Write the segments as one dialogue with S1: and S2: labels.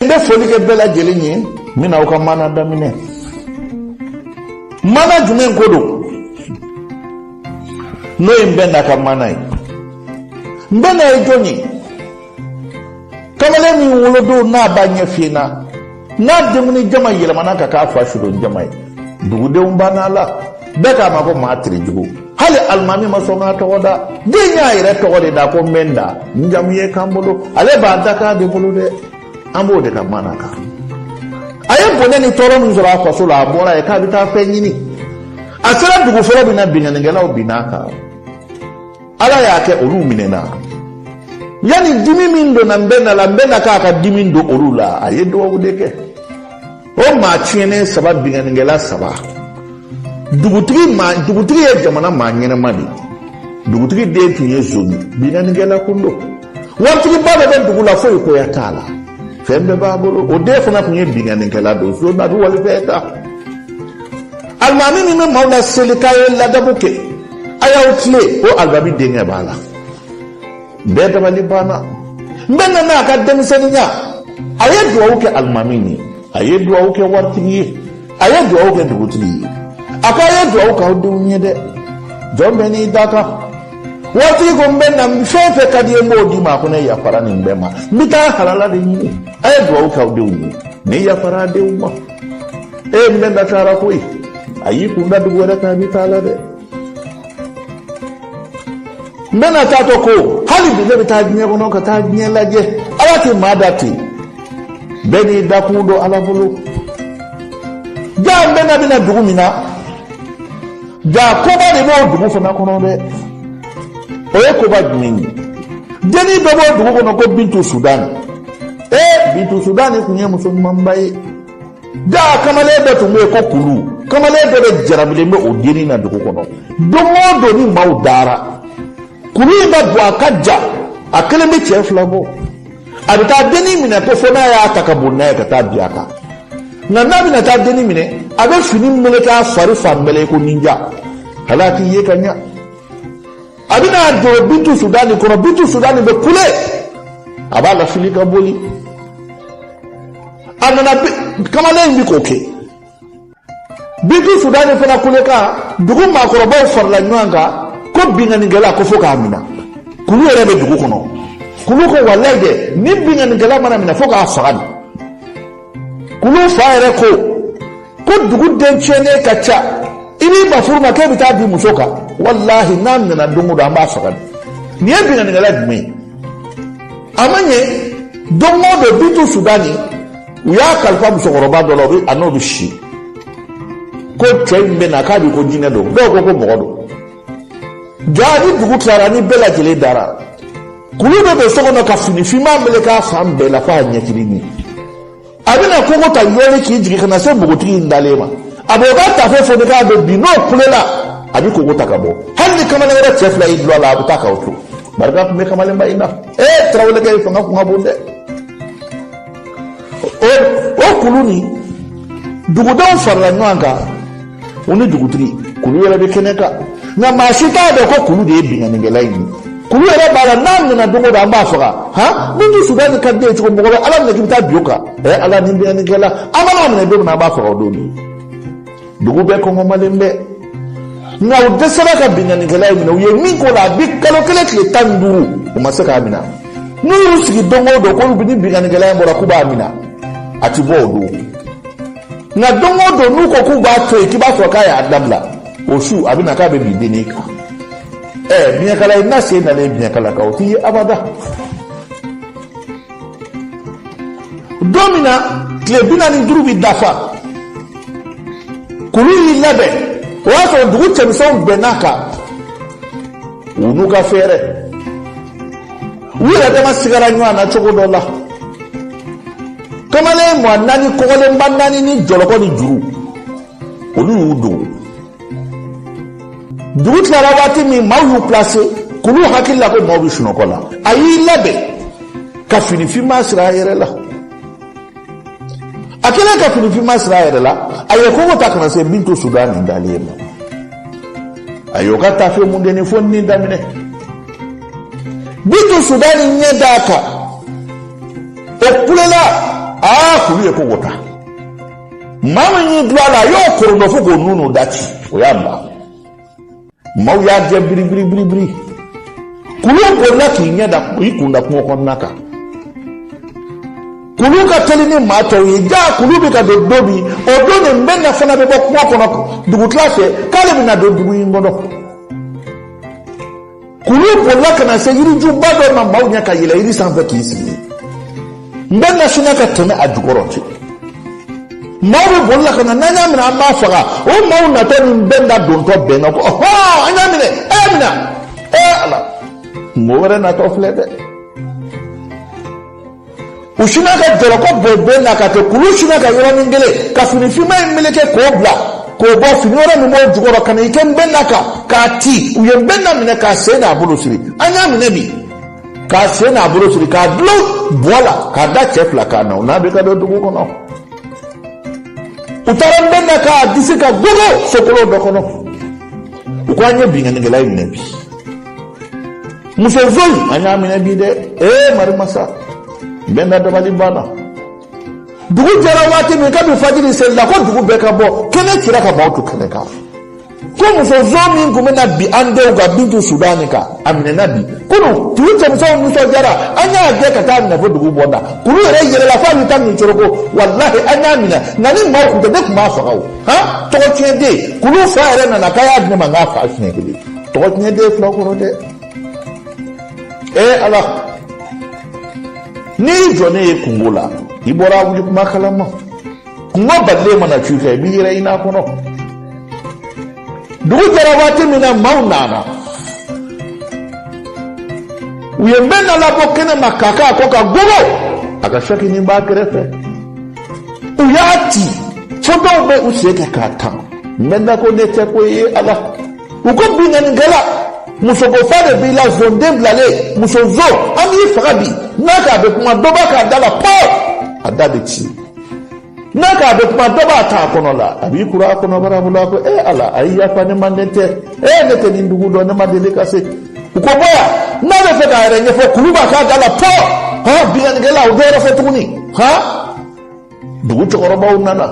S1: n bɛ foli kɛ bɛɛ lajɛlen ye n bɛna aw ka maana daminɛ maana jumɛn ko don n'o ye n bɛ na ka maana ye n bɛ na ye jɔn ye kamalen min wolodon n'a ba ɲɛ finna n'a denkundi jama yɛlɛmana ka k'a fa sudon jama ye dugudenw bann'a la bɛɛ k'a ma ko maa terejugu hali alimami ma sɔn k'a tɔgɔ da den y'a yɛrɛ tɔgɔ de da ko n bɛ n da n jamu ye kan bolo ale b'a dakan de bolo dɛ an b'o de ka maana kan a ye bɔnɛ ni tɔɔrɔ min sɔrɔ a faso la a bɔra yen k'a bɛ taa fɛn ɲini a sera dugu fɔlɔ min na binkannikɛlaw binn'a kan ala y'a kɛ olu minɛna yanni dimi min donna n bɛ na la n bɛ na k'a ka dimi don olu la a ye dugawu de kɛ o maa tiɲɛnen saba binkannikɛla saba dugutigi ye jamana maa ɲɛnama de ye dugutigi den tun ye zon ni binkannikɛla kun don waritigiba de bɛ dugu la foyi koya t'a la fɛn bɛɛ b'a bolo o den fana tun ye binkannikɛla don son a bɛ walifɛn ta alimami min bɛ maaw la seli k'a ye ladabu kɛ a y'aw tilen o alimami denkɛ b'a la Bɛɛ dabali banna n bɛ nana a ka denmisɛnninya a ye dugawu kɛ alimami ye a ye dugawu kɛ waritigi ye a ye dugawu kɛ dugutigi ye a ko a ye dugawu k'aw denw ye dɛ jɔn bɛɛ n'i dakan waritigi ko n bɛ na fɛn fɛn ka d'i ye n b'o d'i ma a ko ne yafara nin bɛɛ ma n bɛ taa halala de ɲini a ye dugawu k'aw denw ye ne yafara denw ma e n bɛ na taara koyi a y'i kun da dugu wɛrɛ kan a bɛ taa la dɛ n bɛ na taatɔ ko hali bi ne bɛ taa diɲɛ kɔnɔ ka taa diɲɛ lajɛ ala tɛ maa da ten bɛɛ n'i dakun don ala bolo jaa n bɛna bɛna dugu min na jaa koba de b'o dugu fana kɔnɔ dɛ o ye koba jumɛn ye dennin dɔ b'o dugu kɔnɔ ko bintu sudani ee bintu sudani tun ye muso ɲumanba ye jaa kamalen dɔ tun bɛ yen ko kulu kamalen dɔ de jarabilen bɛ o dennin na dugu kɔnɔ don o don ni maaw dara kulu in ka bon a ka jan a kelen bɛ cɛ fila bɔ a bɛ taa dennin minɛ ko fo n'a y'a ta ka bɔ n'a ye ka taa bin a kan nka n'a bɛna taa dennin minɛ a bɛ fini meleke a fari fan bɛɛ la i ko ninja hali a t'i ye ka ɲa a bɛna don bintu sudani kɔnɔ bintu sudani bɛ kule a b'a lafili ka boli a nana kamalen in bɛ k'o kɛ bintu sudani fana kule kan dugu maakɔrɔbaw farala ɲɔgɔn kan ko binkannikɛla ko fo k'a minɛ kulu yɛrɛ bɛ dugu kɔnɔ kulu ko walayi dɛ ni binkannikɛla mana minɛ fo k'a faga de kulu fa yɛrɛ ko ko dugu den tiɲɛnen ka ca i b'i ban furu ma k'e bɛ taa bin muso kan walahi n'a minɛna don o don an b'a faga nin ye binkannikɛla jumɛn ye a ma ɲɛ don o don bintu sudani u y'a kalifa musokɔrɔba dɔ la a n'o bɛ si ko cɛ in bɛ na k'a bɛ ko jinɛ don dɔw ko ko mɔgɔ don jaa ni dugu tilara ni bɛɛ lajɛlen dara kulu bɛ don so kɔnɔ ka fini finman meleke a fan bɛɛ la f'a ɲɛkili ɲɛ a bɛna kogo ta yɔrɔ k'i jigin ka na se npogotigi in dalen ma a b'o ka tafe foni k'a b'o bin n'o kulela a bɛ kogo ta ka bɔ hali ni kamalen wɛrɛ cɛ fila y'i dulon a la a bɛ taa k'u to barika tun bɛ kamalenba in na ee tarawelekɛ in fanga kun ka bon dɛ o kulu ni dugudenw farala ɲɔgɔn kan o ni dugutigi kulu yɛrɛ bɛ kɛnɛ kan nka maa si t'a dɔn ko kulu de ye binkannikɛla in ye kulu yɛrɛ b'a la n'a minɛna don o don an b'a faga han bintu sudani ka di ye cogo mɔgɔ bɛ ala minɛ k'i bɛ taa bin o kan ɛ ala ni binkannikɛla an mana a minɛ don min na an b'a faga o don de dugu bɛɛ kɔngɔmalen bɛ nka u dɛsɛra ka binkannikɛla in minɛ u ye min k'o la a bi kalo kelen tile tan ni duuru u ma se k'a minɛ n'u y'u sigi don o don k'olu bɛ ni binkannikɛla in bɔra k'u b'a minɛ a ti bɔ o don nka don o don n'u ko k'u b'a to yen k'i b'a sɔrɔ k'a y'a dabila o su a bɛ na k'a bɛ bin dennin kan ɛɛ biɲɛkala ɲinina sen dalen biɲɛkala kan o ti ye abada don min na tile bi naani ni duuru bɛ dafa kulu y'i labɛn o y'a sɔrɔ dugu cɛmisɛnw bɛnn'a kan u n'u ka fɛɛrɛ. u yɛrɛ dama sigara ɲɔgɔn na cogo dɔ la kamalen mɔɔ naani kɔgɔlenba naani ni jɔlɔkɔ ni juru olu y'u dogo dugu tilara waati min maaw y'u pilase kulu hakili la ko maaw bɛ sunɔgɔ la a y'i labɛn ka fini finman siri a yɛrɛ la a kɛlen ka fini finman siri a yɛrɛ la a ye kogo ta ka na se bintu sudani dalen in ma a y'o ka tafe mundeni foni daminɛ bintu sudani ɲɛ d'a kan o kulela aa kulu ye kogo ta maa min y'i dulon a la a y'o korondɔ fo k'o nunu da ti o y'a ban maaw y'a gɛn biribiri biribiri kulu bolila k'i ɲɛ da i kun da kungo kɔnɔna kan kulu ka teli ni maa tɔw ye jaa kulu bɛ ka don don min o don nin bɛ na fana bɛ bɔ kungo kɔnɔ dugutila fɛ k'ale bɛ na don dugu in kɔnɔ kulu bolila ka na se yirijuba dɔ ma maaw ɲɛ ka yɛlɛ yiri sanfɛ k'i sigi nbɛnna sinna ka tɛmɛ a jukɔrɔ ten maaw bɛ boli la ka na n'an y'a minɛ an b'a faga o maaw natɔ ni nbɛnna dontɔ bɛnna ko ɔhɔn an y'a minɛ a y'a minɛ ɛ ala mɔgɔ wɛrɛ natɔ filɛ dɛ u sinna ka jɔlɔkɔ bɔ bɛn na ka kɛ kulu sinna ka yɔrɔnin kelen ka fini finman in meleke k'o bila k'o bɔ fini wɛrɛ min b'o jukɔrɔ ka na i kɛ nbɛnna kan k'a ti u ye nbɛnna minɛ k'a sen n'a bolo siri an y'a minɛ bi k'a sen n'a bolo siri k'a dulon buwa la k'a da cɛ fila kan na u n'a bɛ ka don dugu kɔnɔ u taara nbɛnna k'a disi kan gogo so kolon dɔ kɔnɔ u ko an ye binkannikɛla in minɛ bi muso zon an y'a minɛ bi dɛ ee marimasa nbɛnna dabali banna dugu jɛra waati min kabini fajiri seli la ko dugu bɛɛ ka bɔ kɛnɛ cira ka maaw to kɛnɛ kan ko muso zon min tun bɛ na bin an denw kan bintu siranin kan a minɛna bi kunu dugu cɛmisɛnw nisɔndiyara an y'a gɛn ka t'a minɛ fo dugu bɔnda kulu yɛrɛ yɛlɛla fo a bɛ taa nin coro ko walahi an y'a minɛ nka ni maaw tun tɛ ne tun b'a faga o han tɔgɔ tiɲɛ den kulu fa yɛrɛ nana k'a y'a di ne ma n k'a fa siɲɛ kelen tɔgɔ tiɲɛ den fila kɔrɔ dɛ ee ala n'i jɔ ne ye kungo la i bɔra wuli kuma kalaman kuma balilen mana cun i kan i b'i yɛrɛ ɲin'a kɔnɔ dugu jɛra waati min na maaw nana u ye nbɛnna labɔ kɛnɛ ma k'a k'a kɔ kan gogo a ka sakinin b'a kɛrɛfɛ u y'a ti fo dɔw bɛ u sen kɛ k'a tan nbɛnna ko ne tɛ ko e ala u ko binkannikɛla muso ko fa de b'i la zonden bilalen muso zon an b'i faga bi n'a k'a bɛ kuma dɔ b'a k'a da la pɔ a da bɛ ti n'a k'a bɛ kuma dɔ b'a t'a kɔnɔ la a b'i kuru a kɔnɔbara bolo a ko e ala a ye yafa ne ma ne tɛ e ne tɛ nin dugu dɔn ne ma deli ka se u ko bɔ yan n'a bɛ fɛ k'a yɛrɛ ɲɛfɔ kulu b'a k'a da la pɔ hɔn binkannikɛla o dɔ wɛrɛ fɔ tuguni han dugu cɛkɔrɔbaw nana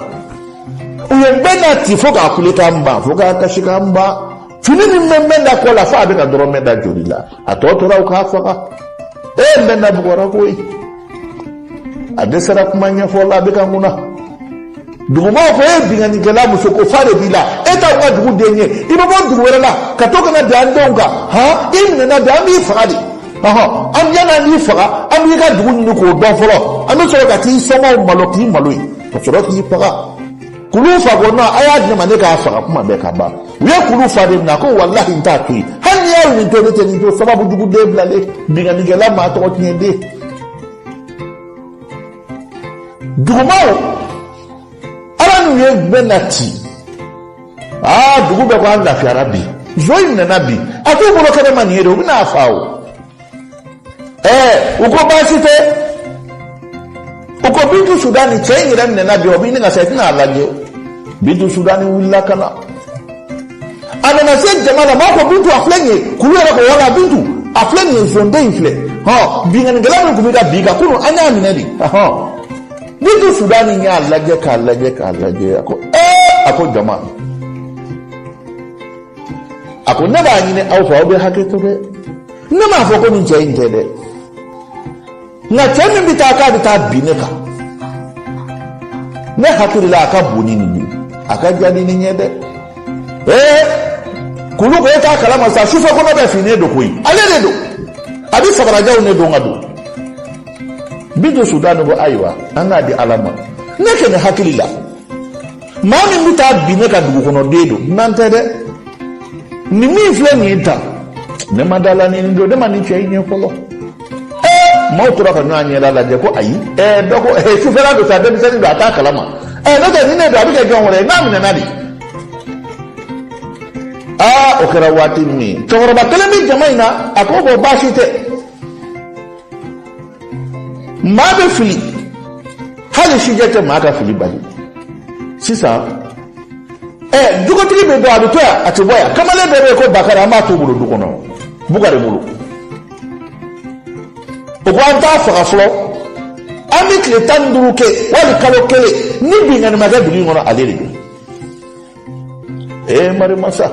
S1: u ye nbɛnna ti fo k'a kulekan ban fo k'a kasikan ban fini min bɛ nbɛnna kɔ la fo a bɛ ka nɔrɔ nbɛnna joli la a tɔ tora u k'a faga e nbɛnna bugɔra koyi a dɛsɛra kuma ɲɛfɔ la a bɛ ka ŋuna duguma ko e binkannikɛla muso ko fa de b'i la e t'anw ka dugu den ye i bɛ bɔ dugu wɛrɛ la ka to ka na d'an denw kan han i minɛna bi an b'i faga dɛ ɔhɔn an yan'an k'i faga an b'i ka dugu ɲini k'o dɔn fɔlɔ an bɛ sɔrɔ ka t'i somɔgɔw malo k'i maloya ka sɔrɔ k'i faga kulu fa ko nɔn a y'a di ne ma ne k'a faga kuma bɛɛ ka ban u ye kulu fa de minɛ ko walahi n t'a to yen hali n'a ye nin to ne tɛ nin to sababu jugu den bilalen binkannikɛla maa tɔgɔ tiɲɛ den dugumaaw ala n'u ye nbɛnna ti aa dugu bɛɛ ko an lafiyara bi zon in minɛna bi a t'u bolo kɛnɛ ma nin ye de u bɛna a fa o ee u ko baasi tɛ u ko bintu sudani cɛ in yɛrɛ minɛna bi o b'i ɲininka sa i tɛna a lajɛ bintu sudani wulila ka na a nana se jama la maaw ko bintu a filɛ nin ye kulu yɛrɛ ko wala bintu a filɛ nin ye zonden in filɛ hɔn binkannikɛla min tun bɛ ka bin i kan kunu an y'a minɛ de hɔn bintu sudani y'a lajɛ k'a lajɛ k'a lajɛ a ko ee a ko jama a ko ne b'a ɲini aw fɛ aw bɛ hakɛ to dɛ ne m'a fɔ ko nin cɛ in tɛ dɛ nka cɛ min bɛ taa k'a bɛ taa bin ne kan ne hakili la a ka bon ni nin ye a ka jan ni nin ye dɛ ee kulu ko e t'a kalama sa sufɛ kɔnɔ bɛ fin nin don koyi ale de don a bɛ sabara janw de don ka don bintu sudani ko ayiwa an k'a di ala ma ne kɔni hakili la. maa min bɛ taa bin ne kan dugukɔnɔden don dunan tɛ dɛ nin min filɛ nin ye tan ne ma da a la nin don ne ma nin cɛ in ye fɔlɔ ɛɛ maaw tora ka ɲɔgɔn ɲɛda lajɛ ko ayi ɛɛ dɔ ko ɛɛ sufɛla don sa denmisɛnnin don a t'a kalama ɛɛ n'o tɛ nin de don a bɛ kɛ jɔn wɛrɛ ye n'a minɛna de aa o kɛra waati min cɛkɔrɔba kelen bɛ jama in na a ko bɔn baasi tɛ. maa bɛ fili hali sijɛ tɛ maa ka fili bali sisan ɛ jogotigi bɛ dɔn a bɛ to yan a tɛ bɔ yan kamalen dɔ bɛ yen ko bakari an b'a to o bolo du kɔnɔ bukari bolo o ko an t'a faga fɔlɔ an bɛ tile tan ni duuru kɛ wali kalo kelen ni binkanni ma kɛ dugu in kɔnɔ ale de don ee marimasa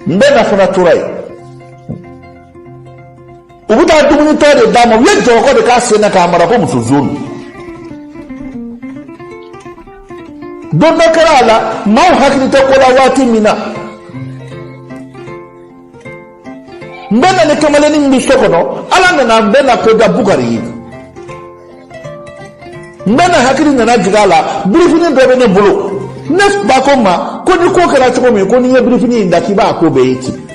S1: nbɛna fana tora yen u bɛ taa dumunitɔ de d'a ma u ye jɔlɔkɔ de k'a sen na k'a mara ko muso zon don don dɔ kɛra a la maaw hakili tɛ ko la waati min na nbɛna ni kamalennin min bɛ so kɔnɔ ala nana nbɛna ko da bukari ye nbɛna hakili nana jigin a la birifini dɔ bɛ ne bolo ne ba ko n ma ko ni ko kɛra cogo min ko n'i ye birifini in da k'i b'a ko bɛɛ ye ten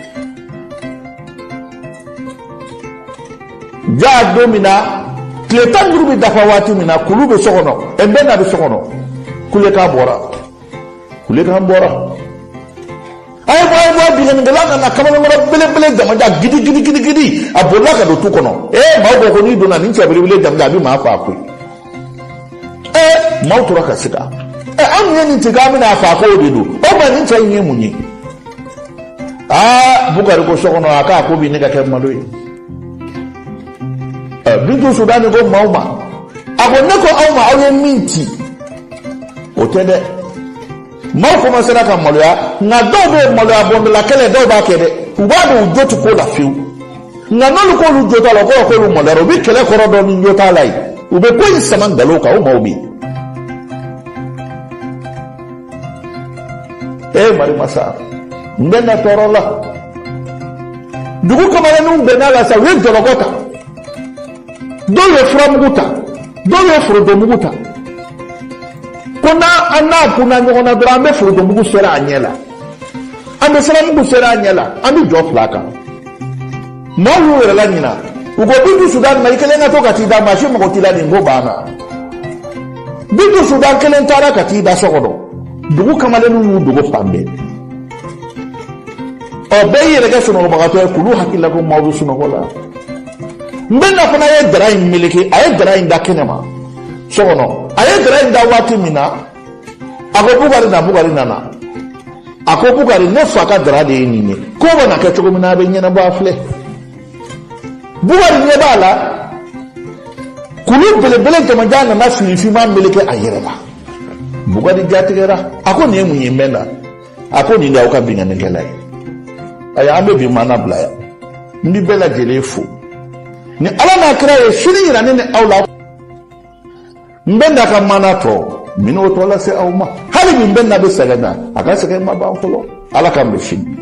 S1: jaa don min na tile tan ni duuru bɛ dafa waati min na kulu bɛ so kɔnɔ ɛ nbɛna bɛ so kɔnɔ kulekan bɔra kulekan bɔra a ye bɔ a ye bɔ a binkannikɛla ka na kamalenkɔrɔ belebele jamajan gidi gidi gidi gidi a bolila ka don tu kɔnɔ ee maaw ko ko n'i donna nin cɛ belebele jamajan a bɛ maa faa koyi ee maaw tora ka siga ee an ye nin tigɛ an bɛna a faa ko o de don o ma nin cɛ in ye mun ye aa bukari ko so kɔnɔ a k'a ko bi ne ka kɛ malo ye eh, bintu sudani ko maaw ma a ko ne ko aw ma aw ye min ci o tɛ dɛ maaw kɔmansera ka maloya nka dɔw bɛ maloya bɔndɔla kɛlɛ dɔw b'a kɛ dɛ u b'a dɔn u jo tɛ ko la fiyewu nka n'olu k'olu jo t'a la o kɔrɔ k'olu maloyara u bɛ kɛlɛ kɔrɔ dɔn ni jo t'a la ye u bɛ ko in sama nkalon kan o maaw bɛ yen e mari masa nbɛna tɔɔrɔla dugu kamalenninw bɛnna la sa u ye jɔlɔkɔ ta dɔw ye furamugu ta dɔw ye forontomugu ta ko n'an n'a kunna ɲɔgɔn na dɔrɔn an bɛ forontomugu seri a ɲɛ la an bɛ siramugu seri a ɲɛ la an bɛ jɔ fil'a kan maaw y'u yɛrɛ laɲina u ko bintu sudan ma i kelen ka to ka t'i da maa si mago t'i la nin ko banna bintu sudan kelen taara ka t'i da so kɔnɔ dugu kamalenninw y'u dogo fan bɛɛ bɛɛ y'i yɛrɛ kɛ sunɔgɔbagatɔ ye k'olu hakili la ko maaw bɛ sunɔgɔ la nbɛna fana ye dara in meleke a ye dara in da kɛnɛ ma so kɔnɔ a ye dara in da waati min na a ko bukari na bukari nana a ko bukari ne fa ka dara de ye nin ye ko bɛ na kɛ cogo min na a bɛ ɲɛnabɔ a filɛ bukari ɲɛ b'a la kulu belebele jamajan nana fini finma meleke a yɛrɛ la bukari jatigɛra a ko nin ye mun ye nbɛna a ko nin de y'aw ka binkannikɛla ye ayiwa an bɛ bi maana bila yan n bi bɛɛ lajɛlen fo ni ala n'a kira ye sini yira ne ni aw la nbɛna ka maana tɔ n bɛ n'o tɔ lase aw ma hali bi nbɛna bɛ sɛgɛn na a ka sɛgɛn ma ban fɔlɔ ala k'an bɛn sini